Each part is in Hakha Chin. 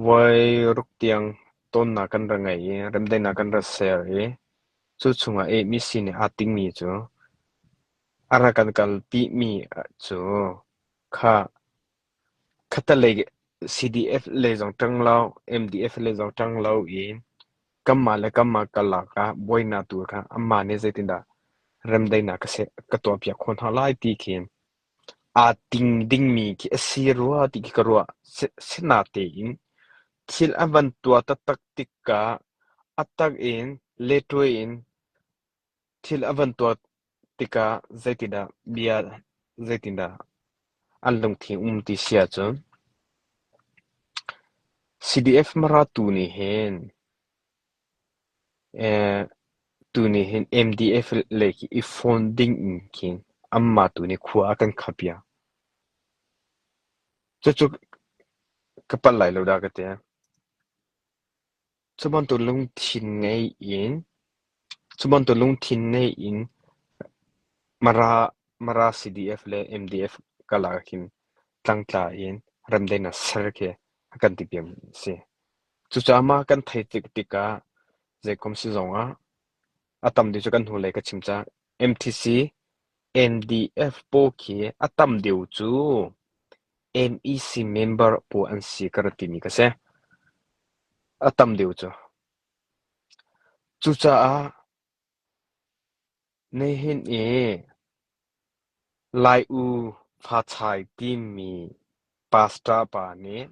Voi ruk tiang tonnak kan ra ngei i remdaihnak kan ra ser i cu chungah ehmi si nih aa tingmi cu a rak kan kalpi mi cu kha khattelei CDF le zong ṭang lo, MDF le zong ṭang lo i kanmah le kanmah karlak ah buainak tu kha anmah nih zeitindah remdaihnak ka tuahpiak khawh hna lai ti khi Aa ting dingmi khi a si rua ti khi ka ruah. Sinatein thil a van tuah taktak tikah a tak in leṭuai in thil a van tuah tikah zeitindah bia zeitindah an lungthin um ti si ahcun CDF maratu nih hin Tuni hin MDF lei i fon ding in khin anmah tu nih khua a kan khamh piak. Cucu ka palh lai lo dah ka ti. Cu bantuk lungthin ngei in, cu bantuk lungthin ngei in Mara, Mara CDF le MDF karlak ah khin tlangtla in ramdeng ah ser khi a kan ti piak mi a si. Cucaah mah kan theih tik tikah zeikom si zongah a tamdeuh cu kan hnulei ka chim cang. MTC NDF pawl khi a tam deuh cu MEC member pawl an si ka ra timi ka si. A tam deuh cu. Cucaah nihin i Lai U Hma Chai timi pastor pa nih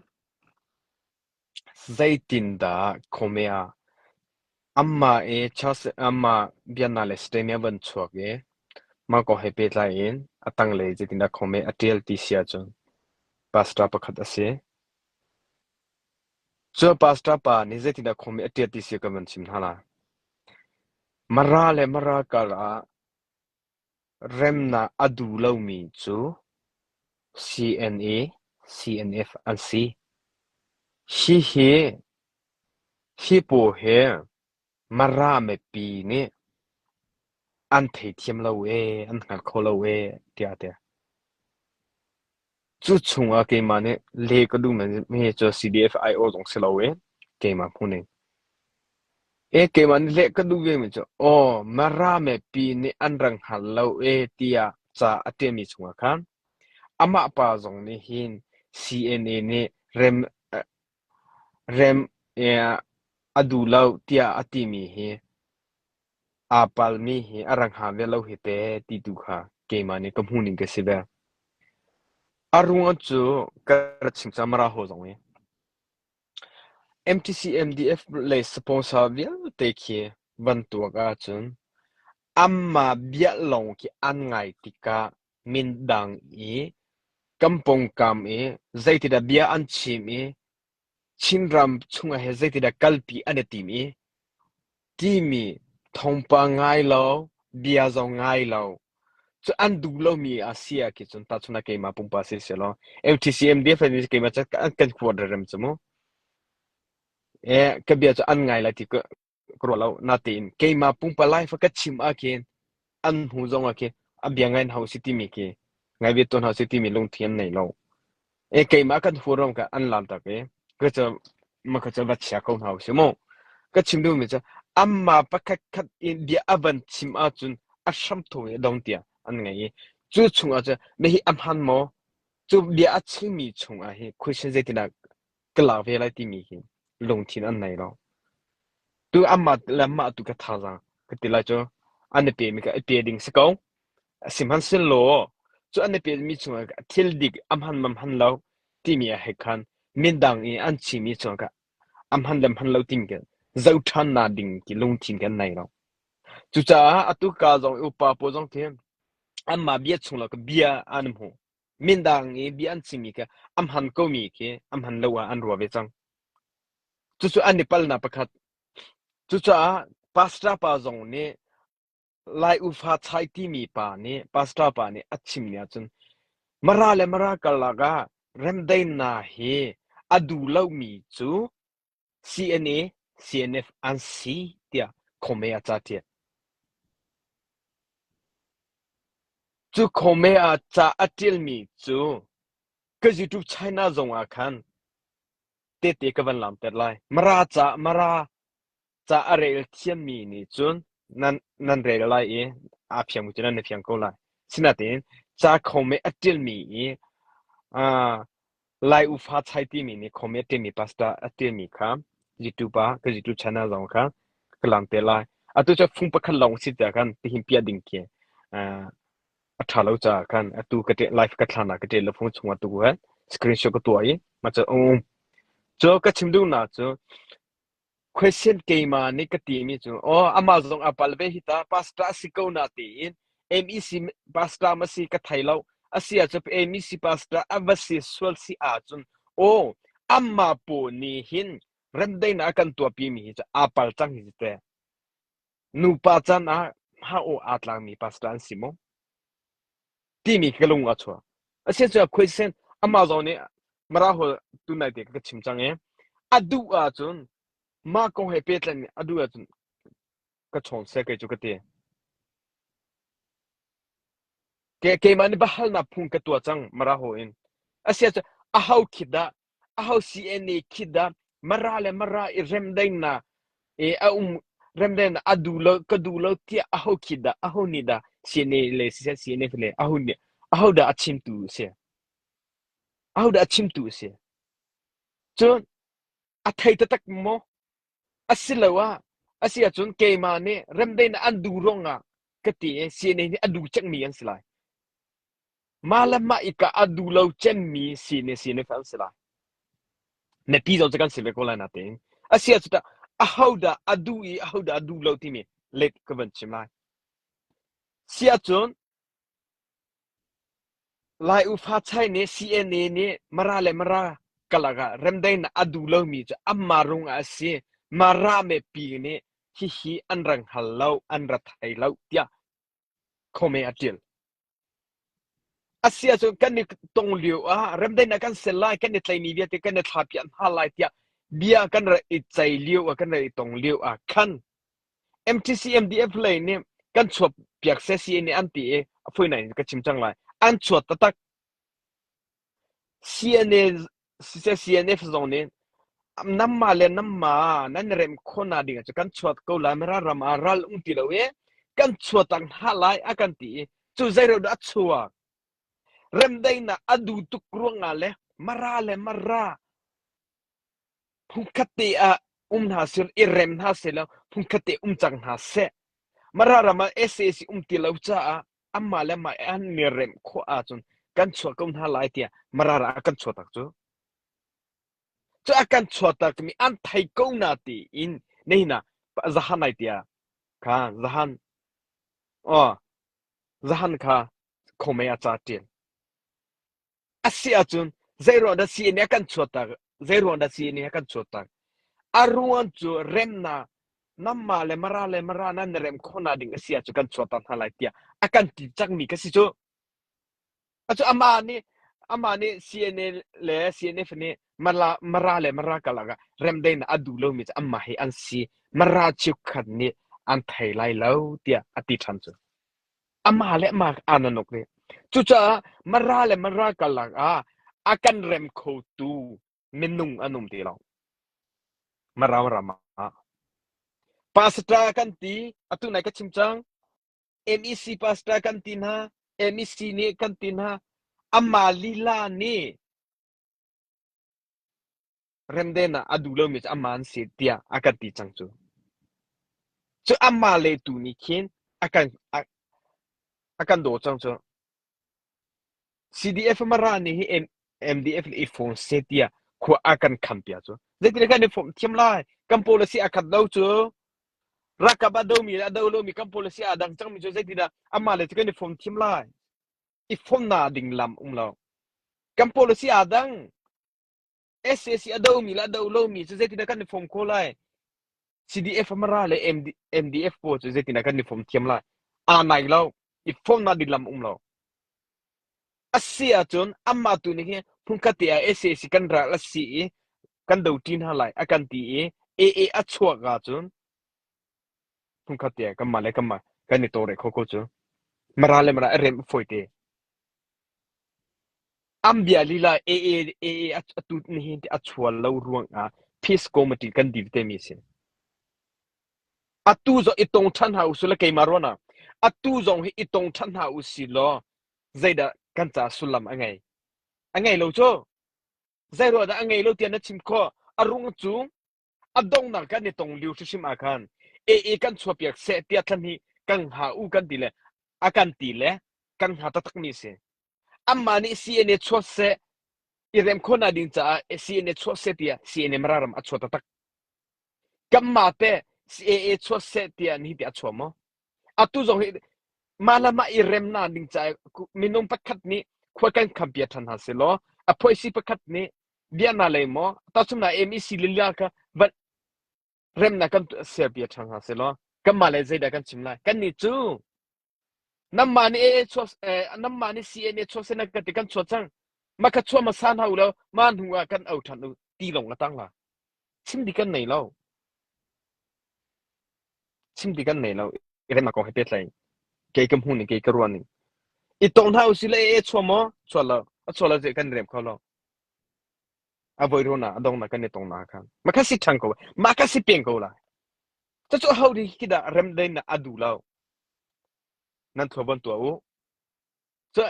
Zeitindah khuami ah anmah i anmah biaknak le stay-mi a van chuak i mah kong he pehtlai in a tanglei zeitindah khuami a ṭial ti si ahcun pastor pakhat a si. Cu pastor pa nih zeitindah khuami a ṭial ti si kan van chim hna lai. Mara le mara karah Remnak a du lomi cu CNA, CNF an si. Hi pawl hi Mara mipi nih an theithiam lo ee, an hngal kho lo ee tiah a ti. Cu chungah keimah nih leh ka duhmi cu CDF aiawh zong si lo i keimah hmu ning. E keimah nih leh ka duh vemi cu aw Marame pi nih an rang hngal lo e tiah ca a ṭialmi chungah khan amah pa zong nih hin CNA nih rem Remh a duh lo tiah a timi hi aa palmi hi a rak hnga ve lo hi te ti tu kha keimah nih ka hmuhning ka si ve. A ruang cu ka rak chim cangmar ah hawi zong i MTC MDF le sponsor vialte khi van tuak ahcun anmah bia lawng khi an ngai tikah Mindang i kan pawngkam i zeitindah bia an chim i Chinram chungah hin zeitindah kalpi an i tim i timi thawngpang ngai lo, bia zong ngai lo. Cu an duh lomi a si ahcun cun tahchunhnak keimah pumpak si sehlaw FTCMDF le keimah cu an kan huat rem cu mu. Ee, ka bia cu an ngai lai ti ka ruah lo. Natein keimah pumpak fa ka chim ahkhin an hnu zong ahkhin a bia ngai hna si timi khi ngai ve tawn hna si timi lungthin an nei lo. E keimah kan huaram ka an lam tak e ka ca ma ka ca va chia ko hna si mu. Ka chim duhmi cu amma pakhat khat in bia a van chim ahcun a hramtho i dong tiang an ngei i cu chung ahcun na hi a hman maw? Cu bia a chimmi chung ah hi question zeitindah ka lak ve lai timi hi lungthin an nei lo. Tu amah le mah tu ka thazaang ka ti lai cu an i pemi ka i pe ding si ko. Sihmanhsehlaw cu an i pemi chungah thil dik amhan mam han lo timi ah he khan mindang i an chimi chungah amhan le hman lo timi kan zoh ṭhan na ding ti lungthin kan nei lo. Cucaah atu ka zong i upa pawl zong khi anmah bia chung lo ka bia an hmu. Mindang i bia an chimmi kha an hman komi khi an hman lo ah an rua ve cang. Cucu an i palnak pakhat. Cucaah pastor pa zong nih Lai ufa chai timi pa nih pastor pa nih a chim ni ahcun mara le mara karlak ah remdaina hi a duh lomi cu CNA, CNF an si tiah Khawme ah ca ṭial. Cu Khawme ah ca a ṭialmi cu ka YouTube China zong ah khan tehte ka van laamter lai. Mara ca, Mara ca a rel thiammi nih cun nan, nan rel lai i aa fiang bu cu nan na fiang ko lai. Sinain ca Khawme a ṭialmi i aa Lai Ufa Chai timi nih khawm i a ṭialmi pastor a ṭialmi kha zitupa ka zitu chan ah zong kha ka lam te lai. Atu cu fung pakhat lawng si caah khan tihin piah ding khi uh, a ṭha lo caah khan atu ka ṭial live ka thlan ah ka ṭial lo fung chungah tu khan screenshot ka tuah i ma cu um. Cu ka chim duhnak cu Question keimah nih ka timi cu aw amah zong a pal ve hi ta pastor a si ko na tiin MEC pastor ma si ka thei lo a si ahcun MEC pastor a va si sual si ahcun aw amah pawl nih hin remdaihnak a kan tuahpi mi hi cu aa pal cang hi teh. Nupa caan ah hngah awk aa tlakmi pastor an si maw? timi ka lung a chuak. Asicuah question amah zong nih Mara hol tunai te ka chim cang i a duh ahcun mah kong he pehtlai a duh ahcun ka chawng sai kai cu ka ti. Ke keimah nih bahalnak phung ka tuah cang Mara ho in. Asicuah a ho khit dah Aho CNA nih khi dah Mara le Mara i remdaihnak i a um remdaihnak a duh lo ka duh lo tiah aho khi dah aho nih dah CNA le siseh CNF le aho nih aho dah a chimtu a si aho dah a chimtu a si cun a thei taktak maw Asiloah a si ahcun keimah nih remdaihnak an duh ruangah ka ti i sining nih a duh cangmi an si lai. Mah le mah ika a duh lo cemmi sining sining an si lai. Mipi zong cu kan si ve ko lai natein. A si ahcun tah ahodah a duh i ahodah a duh lo timi let ka van chim lai. Si ahcun Lai ufa chai nih CNA nih Mara le Mara karlak ah remdaihnak a duh lomi cu an marung ah a si. Mara mipi nih hihi an rang hal lo, an ra thai lo tiah khohme a ṭil. A si ahcun kan i tong lio ah remdaihnak kan ser lai, kan i tleini vialte kan i thlapiah hna lai tiah bia kan ra i ceih lio ah kan ra i tong lio ah khan MTCMDF lei nih kan chuah piak seh CA nih an ti i a fawi ngai in ka chim cang lai. An chuat taktak. CNA siseh CNF zong nih namma le namma nan rem khawh na ding ah cu kan chuat ko lai mira ram ah ral ung ti lo i kan chuat tak hna lai a kan ti i cu zeireu dah a chuak remdaihnak a du tuk ruangah le mara le mara Phunkhat te ah um hna sehla, i rem hna sehla phunkhat te um cang hna seh. Mara ram ah sac um ti lo caah anmah le anmah an mi remh khawh ahcun kan chuah ko hna lai tiah Mara ram ah kan chuah tak cu. Cu a kan chuah takmi an thei ko na tiin na hina zahan ai tia kha zahan o zahan kha khomei a ca ṭian. a si ahcun zeiruang dah sii nih a kan chuahter zeiruang dah sii nih a kan chuahter a ruang cu remnak namma le mara le mara nan rem khawhnak ding a si ahcun kan chuahter hna lai tiah a kan ti cangmi ka si cu acu amah nih amah nih CNA le CNF nih mara, mara le mara kalak ah remdei na a duh lomi cu amah hi an si mara chiukhat nih an thei lai lo tiah a ti ṭhan cu Amah le amah aa na nuk rih. Cucaah mara le mara karlak ah a kan rem khotu minung an um ti lo. Maramram ah. Pastor kan ti, atu nai ka chim cang. MEC pastor kan ti hna, MEC nih kan ti hna. Amah lila nih Remden ah a duh lomi cu amah an si tiah a kan ti cang cu. Cu amah le tu nih khin a kan a, a kan daw cang cu. CDF Mara nih hi MDF le i fawm seh tiah khua a kan kham pia cu. Zeitin kan i fawm thiam lai? Kan policy a khat lo cu. Rakap a domi le a do lomi kan policy aa dang cangmi cu zeitindah amah le cu kan i fawm thiam lai? i fonnak ding lam um lo. Kan policy aa dang. SAC a domi le a do lomi cu zeitindah kan i fom ko lai. CDF amara le MDF pawl cu zeitindah kan i fom thiam lai. Aa nai lo. I fonnak ding lam um lo. A si ahcun amah tu nih hin hmunkhat te ah SAC kan ral a si i kan do ṭin hna lai a kan ti i AA a chuak ahcun Phungkhat tiang kanmah le kanmah kan i tawlrel khawh ko cu. Mara le mara a rem a fawi te. An bia lila AA AA a a tut nihin ti a chual lo ruangah Peace Committee kan dil te mi a si. Atu zong i tong ṭhan hna u sih law keimah ruangah atu zong hi i tong ṭhan hna u si law zeidah kan caah sullam a ngei? A ngei lo cu. Zei ruangah dah a ngei lo tiah na chim khawh. A rung cu A donghnak kan i tong lio hrimhrim ah khan AA kan chuahpiak seh tiah thlan hi kan hha u kan ti le a kan ti le kan hna taktakmi a si. Anmah nih CNA chuah seh i rem khawhnak ding caah CNA chuah seh tiah CNA mararam a chuah taktak. Kanmah te CAA chuah seh tiah ni ti a chuah maw? Atu zong hi mah le mah i remnak ding caah minung pakhat nih khua kan khampi ṭhan hna selaw a phoisi pakhat nih Bia na lei maw? Tahchunhnak MEC lila kha va remnak kan serpi a ṭhang hna selaw kanmah le zeidah kan chim lai? Kannih cu nanmah nih AA chuah nanmah nih CNA chuah sena ka ti kan chuah cang. Mah kha chuah hmasa hna u law mah hnu ah kan o ṭhan u ti lawng a tang la. Chim di kan nei lo. Chim di kan nei lo. I remnak kong he petlai. Kei ka hmu ning, kei ka ruan ning. I tong hna u si le AA chuah maw? Chuah lo. A chuah lo je kan rem kho lo. A voi runak a dongnak kan i tong nak khan ma ka si ṭhan ko ma ka si peng ko lai cucu hodik hidah rem dei na a du lo nan thua bon tuah u cu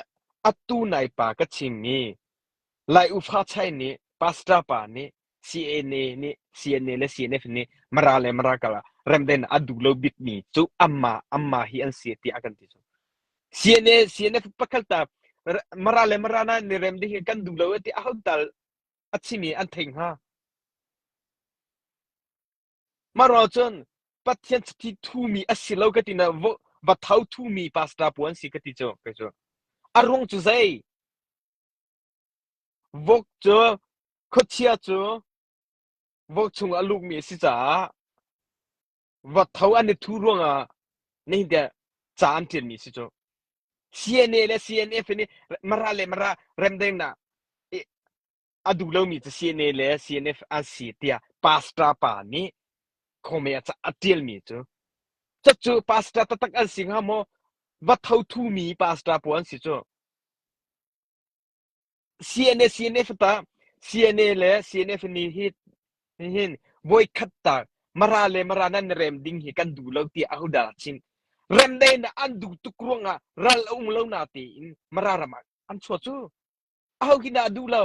atu nai pa ka chim mi lai ufa chai nih pastor pa nih CNA le CNF nih Mara le Mara kal ah remden ah a duh lo bikmi cu amma amma hi an si tiah a kan ti cu. CNA CNF pakhat ta Mara le Mara na ni remdi hi kan duh lo ti a hon tal a chimi an thei hnga. Maro cun Pathian chiti thumi a si lo ka ti na va thau thumi pastor puan si ka ti cu kai cu. A ruang cu zei? Vok cu khuachia cu vok chung a lukmi a si caah va tho an i thuh ruangah nihin tiang ca an ṭialmi a si cu. CNA le CNF hi nih Mara le Mara remdengnak i a duh lomi cu CNA le CNF an si tiah pastor pa nih khawme a ca- a ṭialmi cu Cuc cu pastor taktak an si hnga maw? Va tho thumi pastor pawl an si cu. CNA CNA fatah CNA le CNA fani hi hin voikhat ta mara le mara nan rem ding hi kan duh lo ti ahodah chin remdei na an duh tuk ruang ah ral a um lo na ti in mara ram ah an chuah cu aho hin dah a duh lo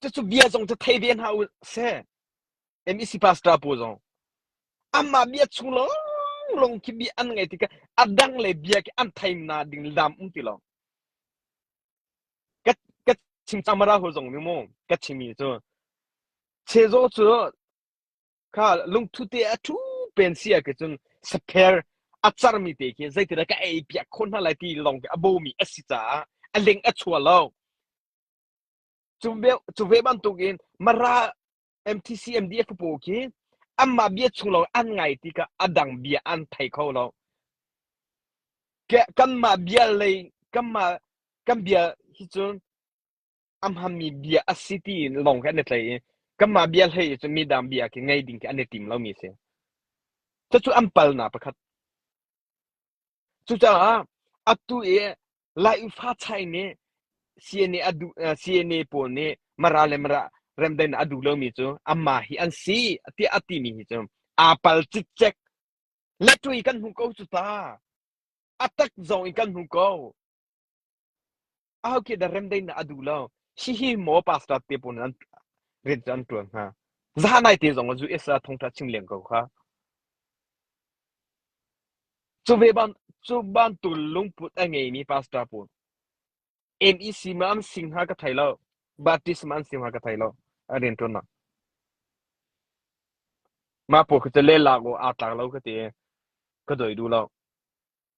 Cucu bia zong cu thei ve hna u sih. MEC pastor pawl zong anmah bia chung lawnglawng khi bia an ngaih tikah a dang le bia khi an theimna ding lam um ti lo. Ka ka chim camara hol zong nih mu ka chimmi cu chezaw cu kha lungthu te a thu pen sia ke cun spare a charmi te khi zeitina ka ei piak khon hna lai ti lawng a bomi a si caah a ling a chua lo Cu ve bantukin Mara MTCMDF pawl khi anmah bia chung lawng an ngai tikah a dang bia an thei kho lo. Kanmah bia lei kanmah kan bia hi cun a hmanmi bia a si tiin lawng khi an i tlai i kanmah bia hlei cun midang bia khi ngei ding khi an i tim lomi a si. Cucu an palnak pakhat. Cucaah atu i Laihfa chai nih CNA a duh CNA pawl nih Mara le Mara remdain a duh lomi cu amma hi an si tiah a timi hi cu aa pal cikcek letui kan hmu ko cu ta a tak zong i kan hmu ko ahokhe da remdain na a duh lo hihi maw pastor te pun an rin an tuan hna za nai te zong zu isa thongtha chim leng ko kha Cu bantuk lungput a ngeimi pastor pawl MEC maw an si hnga ka thei lo, Baptist maw an si hnga ka thei lo a rianṭuannak. Mah pawl khi cu lelak awk aa tlak lo ka ti i ka dawi duh lo.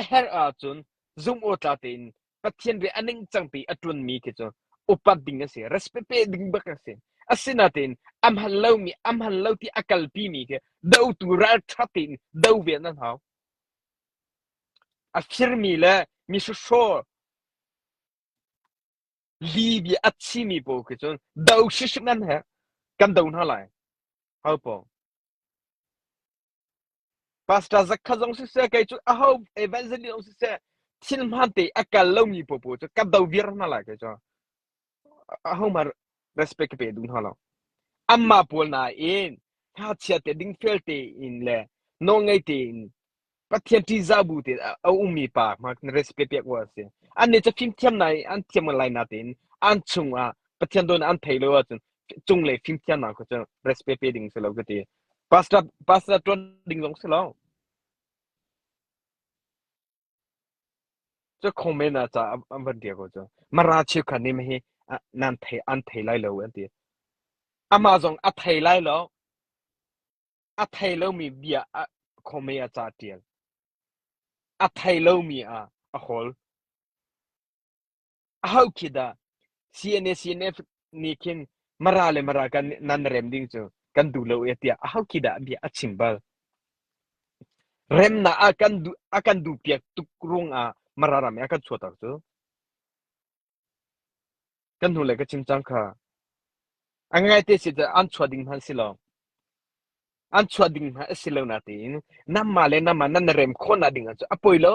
A herh ahcun zumhawktlak tein Pathian ri a ningcangpi a ṭuanmi khi cu upat ding an si, respect pe ding bak an si. Asinain a hman lomi a hman lo ti a kalpimi khi dotu ralṭha tein do ve nan hau. A firmi le misuhraw libia a thimi pawl khi cun do hrisik nan herh kan do hna lai. Hau paw. Pastor zakhat zong siseh, kei cu aho evangelist zong siseh, thil hmante a kal lomi popo cu ka do viar hna lai kei cu. Ahohmanh respect ka pe duh hna lo. Anmah pawl nain hngakchia te ding fel tein le nawlngei tein Pathian ṭihzah bu te a ummi pa hma respect pek awk a si. An nih cu fimthiam na in an thiam lai na tein an chung ah Pathian dawn an thei lo ahcun cunglei fimthiamnak kha cu respect pe ding si lo ka ti. Pastor ṭuan ding zong si lo. Cu khong men ah ca an van ṭial ko cu. Mara cheukhat nih hi nan thei an thei lai lo an ti. Amah zong a thei lai lo. A thei lomi bia a khong men ah ca ṭial. A thei lomi ah a hol. ahokhit dah CNA-CNF nih khin mara le mara kan nan rem ding cu kan duh lo e tiah ahokhit dah bia a chim bal remnak a kan duh a kan duh piak tuk rung ah mara ram a kan chuater cu kan hnu le ka chim cang kha a ngai te si cu an chuah ding hman si lo an chuah ding hna a si lo na tiin namma le nama nan rem khawna ding cu a poi lo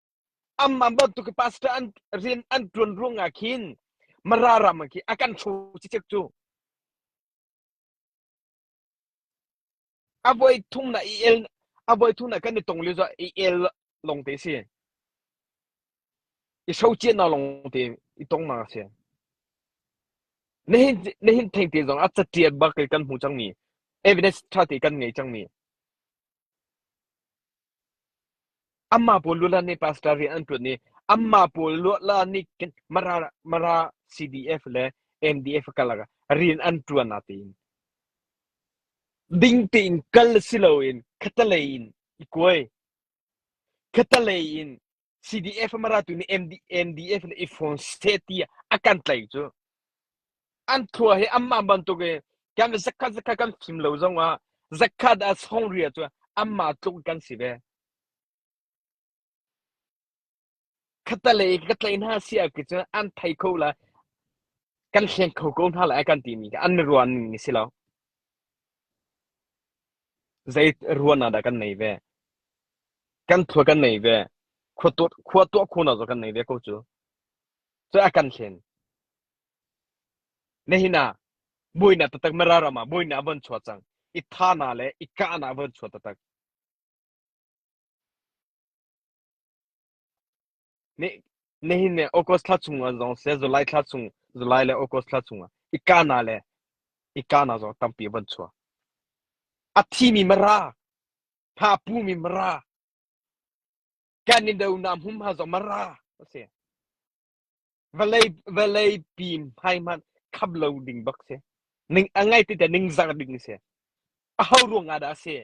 Amman bantuk i pastor an rian an ṭuan ruangah khin Mara ram ah khi a kan ṭhu cicek cu. A voi thum na i el a voi thum na kan i tong lio zo i el long te si. I so cia na long te i tong ma si. Na hin na hin theng te zong a catiat bak kan hmu cang mi evidence ṭha te kan ngei cang mi. Amah pawl lula nih pastor rian an ṭuan i amah pawl lula nih Mara CDF le MDF kar lakah rian an ṭuan a tiin ding tein kal si loin khatalei in i kuai. Khatalei in CDF maratu nih MDF le iPhone seti a kan tlaih cu an thua hi anmah bantuk i kan zakhat zakhat kan fim lo zongah zakhat a songria cu anmah tluk kan si ve khatalei ka tlai hna si a ki cun an thai kho la kan hleng kho ko hna la kan ti mi an ruan ni si lo Zei ruahnak dah kan nei ve? Kan thua kan nei ve. Khua tuah, khua tuah khuna zaw kan nei ve ko cu. Cu a kan hlen. Nihin ah, muina tatak mara ram ah muina a von chuah cang. I tha na le i kah na a von chuah tatak. Nihin ni August thla chungah zong seh July thla chung July le August thla chungah ikana le ikana zong tampi van chuah. A thimi mara, thapu mi mara, kan ni do nam hum ha zong mara asi. Vale vale pim hai man khap lo ding bak si. Ning angai ti te ning zang ding si. A hau ruang ah dah si.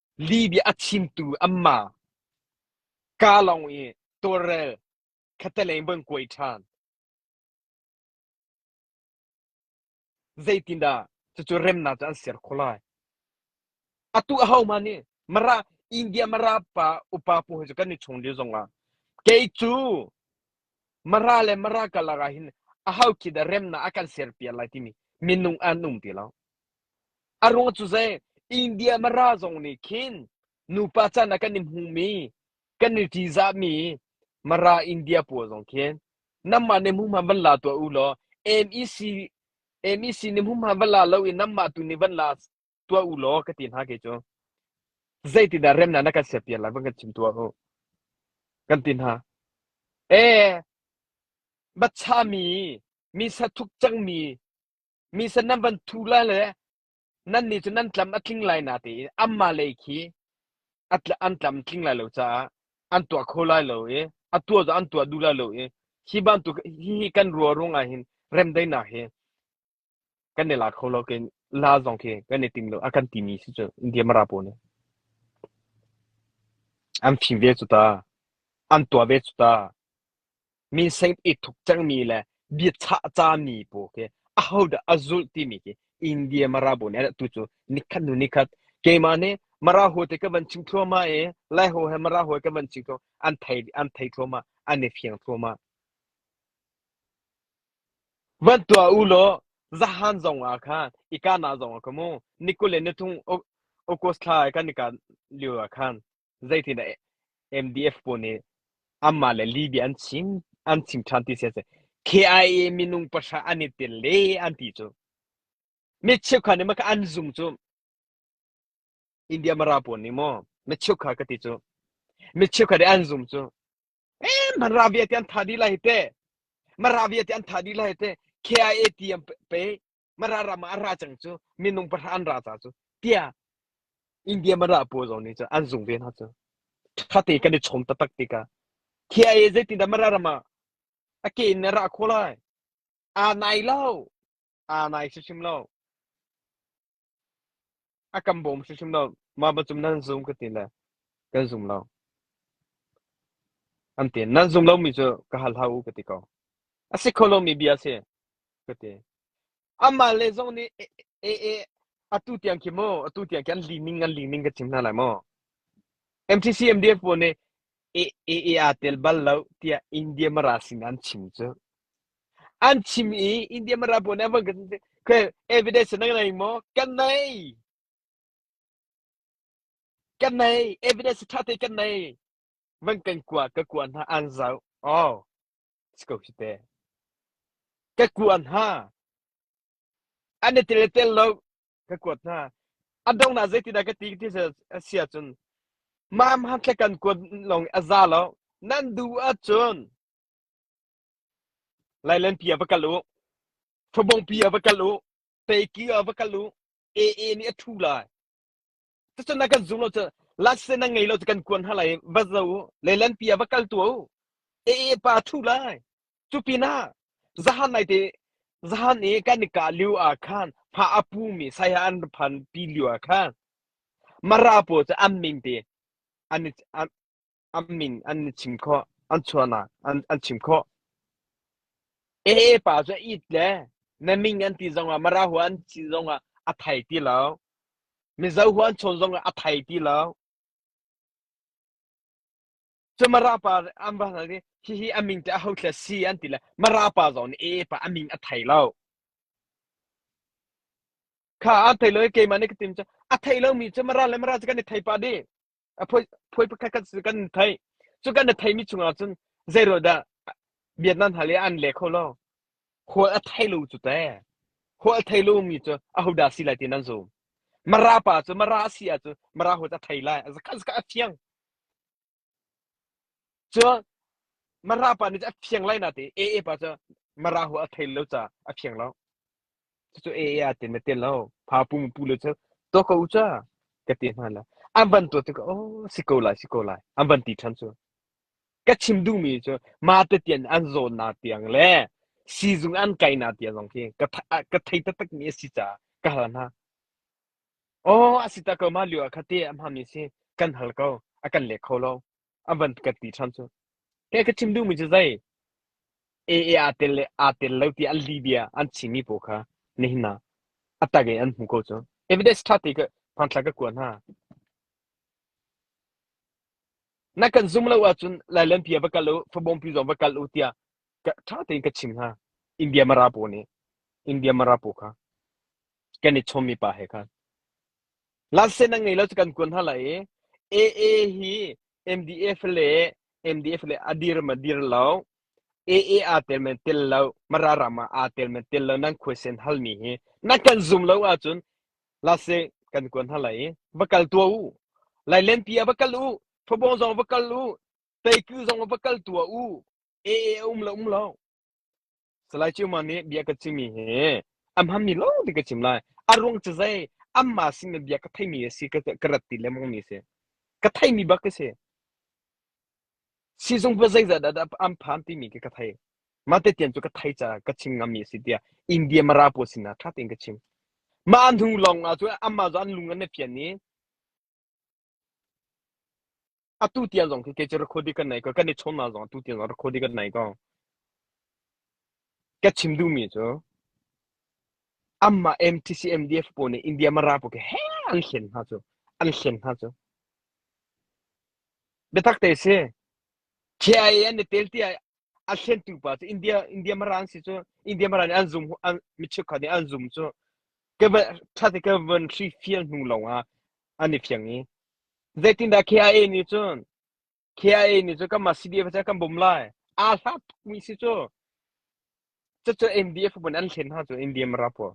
Libya a chimtu an ma kaa lawng i tawlrel khattelei maw an kuai ṭhan. Zeitindah cucu remnak cu an ser khawh lai? Atu ahohmah nih Mara India Mara pa upa pu hi cu kan i chung lio zongah kei cu Mara le Mara karlak ah hin aho khi dah remnak a kan ser piak lai timi minung an um ti lo. A ruang cu zei? India Mara zong nih khin nupa chan ah kan i hmumi, kan i ṭihzahmi Mara India pawl zong khin nanmah nih hmuhma van la tuah u law MEC MEC nih hmuhma van la lo in nanmah tu nih van la tuah u law ka ti hna kei cu. Zeitindah remnak na kan siapiak lai van kan chim tuah u. Kan ti hna. E, bachami, mi sathuk cangmi Mi sa nan van thu lai le nannih cu nan tlam a tling lai na ti i anmah lei khi an tlam tling lai lo caah an tuah kho lai lo i a tuah cu an tuah duh lai lo i hi bantuk hihi kan ruarung ah hin remdaihnak hi kan i la kho lo kin la zong khi kan i tim lo a kan timi si cu India mara po ne an phim ve cu ta an tuah ve cu ta Minseng i thup cangmi le biachah cami pawl khi ahodah a zulh timi khi India Mara bu nih tu cu nikhat hnu nikhat keimah nih Mara hawi te ka van chim thluahmah i Lai hawi he Mara hawi kan van chim thluahmah an thei an thei thluahmah an i fiang thluahmah. Van tuah u law zahan zong ah khan ika na zong ah ka mu ni kul le ni thum August thla kan ika lio ah khan zeitin MDF pawl nih anmah le Libya an chim an chim ṭhan ti si a si KIA minung pahra an i tel le an ti cu mi cheukhat nih maka an zung cu India mara pawl nih maw mi cheukhat ka ti cu mi cheukhat nih an zung cu em man ravia te an tha di lai te ma ravia te an tha di lai te KIA ti an pe mara ram ah a ra cang cu minung pahra an ra ca cu tiah India mara pawl zong nih cun an zung ve hna cu thate kan i chom taktak tikah thia e zeitin dah mara ram ah a ke in na ra kho lai aa nai lo aa nai hrim lo A kan bawm hrimhrim lo. Mah bantuk nan zum ka ti le kan zum lo. An ti. Nan zum lomi cu ka hal hau u ka ti ko. A si kho lomi bia si ka ti. Amah le zong nih e, e, e, atu tiang khi mu atu tiang khi an li ning an li ning ka chim hna lai mu. MTC MDF pawl nih e, e, e a tel bal lo tiah India mara sin an chim cu. an chim i India mi ralbawi nih van kan evidence na ngei maw kan nei kan nei evidence ṭha te kan nei van kan kua ka kua hna an zau oh let's go hite ka kua hna an i tel tel lo ka kuat hna a dong na zei tina ka ti ti sia cun mam han tle kan kuat long a za lo nan du a cun Lailenpi ah va kal u. Ṭhabongpi ah va kal u. Teiki ah va kal u. AA nih a ṭhu lai. Cucun a kan zum lo cu laksen a ngei lo cu kan kuan hna lai. Va zo u. Lailenpi ah va kal tu u. AA pa a ṭhu lai. Cu pinah zahan nai te zahan i kan i kah lio ah khan hma a pu mi saya an phan pi lio ah khan mara pawl cu an ming te an i an an min an i chim khawh an chuahnak an an chim khawh e pa cu it le na min an ti zongah mara huan an ti zongah a thai ti lo mizo huan chawn zongah a thai ti lo cu mara pa an ba hi hi aming te a ho thla si an ti le mara pa zong e pa aming a thai lo kha a thai lo ke mane ka tim cha a thai lo mi chu mara le mara chu kan i thai pa di a phui pakhat kan kan thei cu kan thei mi chung ah cun zei ro dah Vietnam hna le an le kho lo hual a thei lu cu te hual thei lu mi cu a hu da si lai ti nan zum mara pa cu mara si a cu mara hu ta thei lai zakhan zakha a fiang cu mara pa ni a fiang lai na te e e pa cu mara hu a thei lo cha a fiang lo cucu e ya te ma te lo pha pu mu pu le cha to ko cha ka te hna la an ban to te ko oh si ko lai si ko lai an ban ti than chu ka chim du mi chu ma te tian an zo na tiang le sizung an kai na tia zong khi ka ka thei ta tak mi si cha ka hal na oh asita ko ma liu kha te am ha mi si kan hal ko akan le kho lo an van ka ti cham cu ke ka chim duhmi cu zei aa aa tel le aa tel lo ti an li bia an chimi paw kha nihna atak in an hmu ko cu evidence ṭha te ka phangthla ka kuan hna na kan zum lo ahcun lailan pia va kal u fabong pi zong va kal u tia ṭha tein ka chim hna india marapo nih india marapo kha kan i chommi pa he khan Lansen an ngei lo cu kan kuan hna lai i AA hi MDF le MDF le a dir ma dir lo. AA aa tel men tel lo. Mara ram ah aa tel men tel lo. Nan khuaisen hal mi hi nan kan zum lo ahcun lase kan kuan hna lai i va kal tua u. Lailenpi ah va kal u. Fabong zong va kal u. Teiku zong va kal tua u. AA a um lo um lo. Salai Ciuma nih bia ka cimi hi a hmanmi lawngte ka chim lai. A ruang cu zei? Amah sin le bia ka theimi a si ka ka rat ti lengmang mi a si. Ka theimi bak ka si. Sizung va zeizat dah an phan timi khi ka thei. Mate tian cu ka thei caah ka chim ngami a si tiah India Mara pawl sinah ṭha tein ka chim. Mah hnu lawng ah cu amah cu an lung an i fian i Atu tiang zong khi kei cu record i kan nai ko. Kan i chawnhnak zong atu tiang zong record i kan nai ko. Ka chim duhmi cu amah MTC MDF pawl nih India Mara pawl khi heh an hlen hna cu. An hlen hna cu. Biatak te si. KIA an i tel ti ah a hlentu pa cu India India Mara an si cu. India Mara nih an zum an mi cheukhat nih an zum cu. Ka va ṭhat i ka van hrifial hnu lawng ah an i phiang i zeitindah KIA nih cun KIA nih cun kanmah CDF cu kan bawm lai aa hla tukmi si cu cucu NDF pun an thlen hna cu India marapo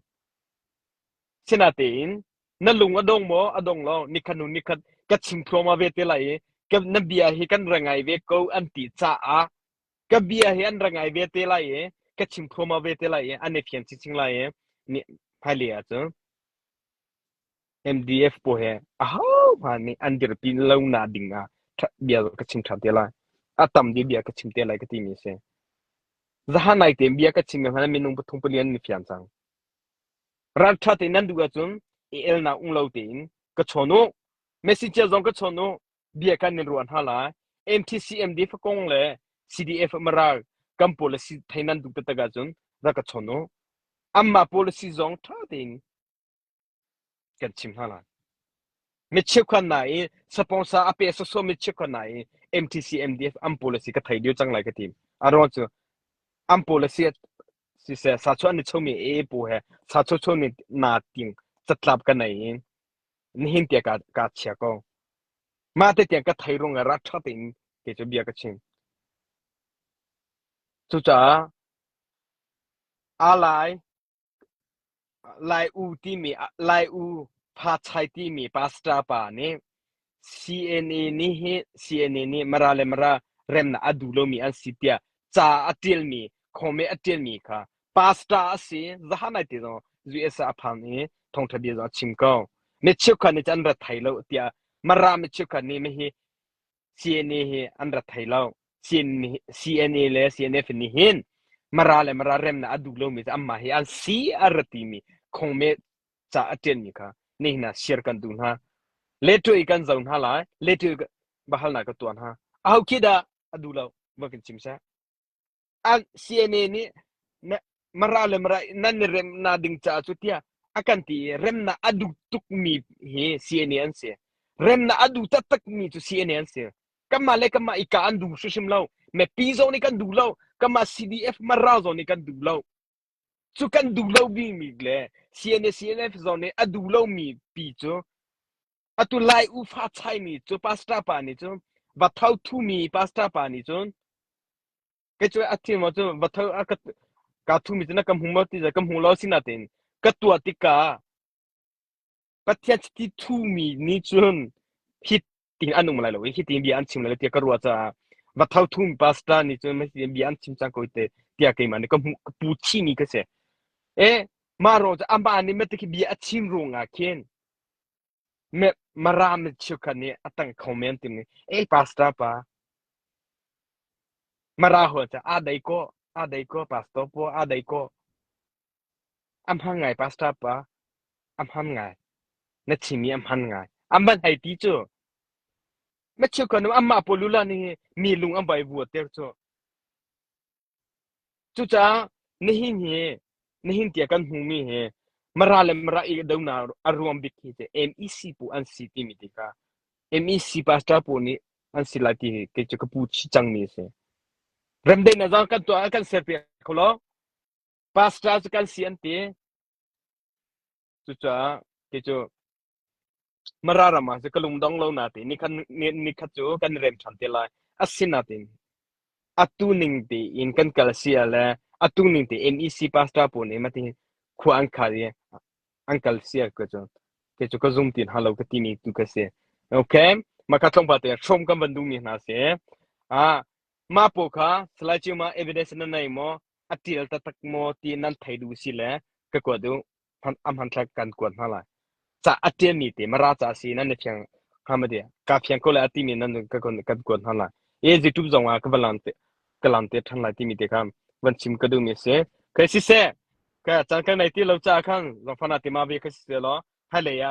sinatein na lung a dong maw a dong lo nikhat nu nikhat ka chim thluama ve te lai i ka na bia hi kan ra ngai ve ko an ti caah ka bia hi an ra ngai ve te lai i ka chim thluama ve te lai i an i phian chi ching lai i ni phai le ah cu MDF pawl he ahohmanh nih an dirpi lonak ding ah ṭha bia ka chim ṭhan te lai. A tam dih bia ka chim te lai ka timi a si. Zahan nai te bia ka chim mi hmanh minung pathum pali an ni fian cang. Rat ṭha te nan duh ahcun i elnak um lo tein ka chawn u. Messenger zong ka chawn u. Bia kan in ruah hna lai. MTCMD fakong le CDF maral kan policy thei nan duh taktak ahcun rak ka chawn u. Amma policy zong ṭha tein Mi chikkhuan hna i sponsor a pe sawsawh mi chikkhuan hna i MTC MDF an policy ka thei dio cang lai ka tim a ruang cu an policy siseh sa chuan ni chomi e pu he sa cho cho ni na ting chatlap ka nei in nihin te ka ka chia ko ma te tiang ka thei rung ra that in ke chu bia ka chim cucaah alai Lai U timi ah Lai U Phachai timi pastor pa nih CNA nih hi CNA nih Mara le Mara remnak a duh lomi an si tiah ca a ṭialmi khawme a ṭialmi kha pastor a si zahan ai te zong US ah a phan i thawngṭha bia zong a chim ko. Mi cheukhat nih cun an ra thai lo tiah Mara mi cheukhat nih hihi CNA hi an rat thai lo. CNA le CNA fin nih hin Mara le Mara remnak a duh lomi cu anmah hi an si a rat timi khongme ca a ṭianmi kha nihin ah share kan duh hna. Leṭo i kan zo hna lai. Leṭo i bahal na ka tuah hna. A ho khi dah a duh lo va kan chim seh. CNA nih mara le mara nan i rem na ding caah cu tiah a kan ti i remnak a duh tukmi hi CNA an si remnak a duh taktakmi cu CNA an si kanmah le kanmah i ka an duh hrim lo mepi zong nih kan duh lo kanmah CDF mara zong nih kan duh lo cu kan duh lo bimi le CNA CNF zong nih a duh lomi pi cu atu lai ufa chaimi cu pastor pa nih cun vathau thumi pastor pa nih cun kai cu a thi mo cu vathau a ka ka thumi cu na ka hmu mo ti ka hmu lo sina tin ka tua tika pathian ti thumi ni cun hi ting an um lai lo hi ting bia an chim lai lo tia ka ruwa ca vathau thumi pastor nih cun mai bia an chim chang ko te tia ke man ka hmu pu chi mi ka se e ma ro ca amba ni me ti bia a chim ru nga khin Met Mara mitcheu kha nih a tang kho men timi. "Ei Pastor pa, Mara hual cu aa dei kaw, aa dei kaw Pastor pa, aa dei kaw. A hman ngai Pastor pa, a hman ngai. Na chim i a hman ngai. A man hei ti cu. Mitcheu kha nu amah pawl lula ning i mi lung a vai vua ter cu. Cucaah nihin hi nihin tiah kan hmumi hi Mara le Mara idohnak a ruang bik hi cu MEC phu an si timi ti kha MEC pastor pawl nih an si lai ti hi kei cu ka pu chih cangmi a si. Remdain azang kan tuah ah kan ser piak kho lo. Pastor cu kan si an ti. Cucaah ti cu Mara ram ah ka lungdong lo natein nikhat nikhat cu kan rem ṭhan te lai. Asinain atu ning tein kan kal si ah le atu ning tein NEC pastor pawl nih mah ti khua an khar i an kal si ah ka cu ti cu ka zum tin halo ka ti mi tu ka si. Okay, mah ka tlong pa te hrom kan van duh mi hna si. Ah mah pawl kha Salai Cima evidence na nei maw? a ṭial taktak maw ti nan thei duh si le ka kuat u a hmanthlak kan kuat hna lai ca a ṭialmi te mara ca si nan ni phiang hama de ka phiang ko le a timi nan ka kan kuat hna lai e youtube zong ah ka va lam te ka lam te than lai timi te kham van chim ka duhmi se kai si se ka chan kan nei ti lo cha khang zong fana ti ma ve ka si lo hai le ya